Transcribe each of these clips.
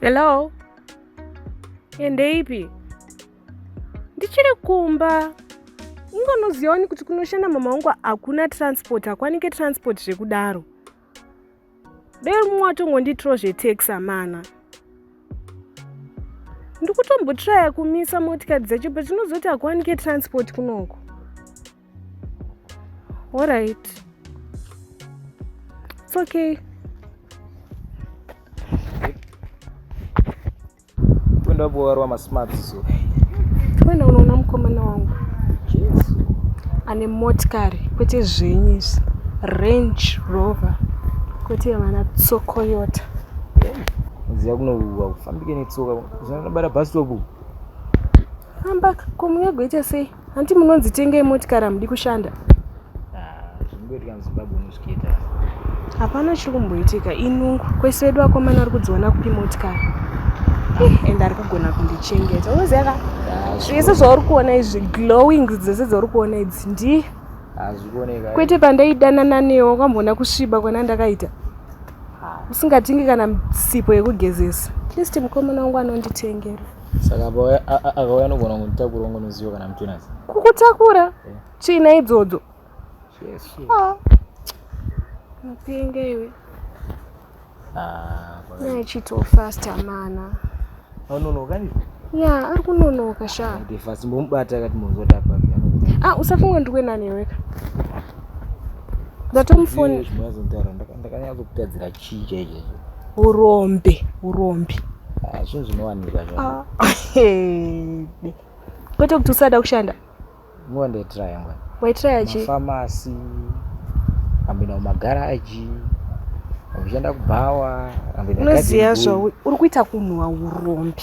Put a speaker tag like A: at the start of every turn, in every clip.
A: Hello, ende ipi? Ndichiri kumba. Ungonoziva wani kuti kunoshanda mama wangu hakuna transport, hakwanike transport zvekudaro. dai mumwe watongondiitirawo zvetex amana ndikutombotiraya kumisa motikari dzacho but tinozoti hakuwanike transport kunoko orit its okay Twenda boarwa ma smart so. Twenda unoona mukomana wangu. Yes. Ane motikari kwete zvenyu izvi. Range Rover kwete yavana tsokoyota. Ziya kunouwa kufambike netsoka. Zvinobara bus stop. Famba komunyagwe ita sei? Hanti munonzi tengei motikari hamudi kushanda. Ah, zvingoitika muZimbabwe unozviita. Hapana chiri kumboitika inungu kwese vedu vakomana vari kudziona kupi motikari eh, and ari kugona kundichengeta unoziva ka ah, zvese zvauri kuona izvi glowing dzese dzauri kuona idzi ndi ah, eh. kwete pandaidanana newo kwamboona kusviba kwana ndakaita usingatingi kana sipo yekugezesa at least mukomana wangu anonditengera saka akauya anogona kunditakura ungonoziva kana mutinazi kukutakura tsvina eh. idzodzo ah. mapenga iwe ah, naachito fasta mana anonoka ndii ya ari kunonoka shaa fast mbomubata akati mozota papi ah usafunga ndiwe nani iweka ndatomufoni zvimwe azontaura ndakanyatso kutadzira chii chaicho urombe urombe Ah, zvinhu zvinowanika zva Ah, hede. kwete kuti usada kushanda nguva ndaitraya ngwani waitraya chi mafamasi ambinda mumagaraji ambishanda kubhawa ambinda unoziva zvau uri kuita kunhuwa urombe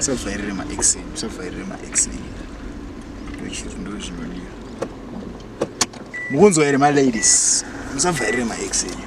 A: usavhairire maex usavhairire maex ndochiri ndo zvinodiwa mukunzwa here maladies musavhairire maex enyu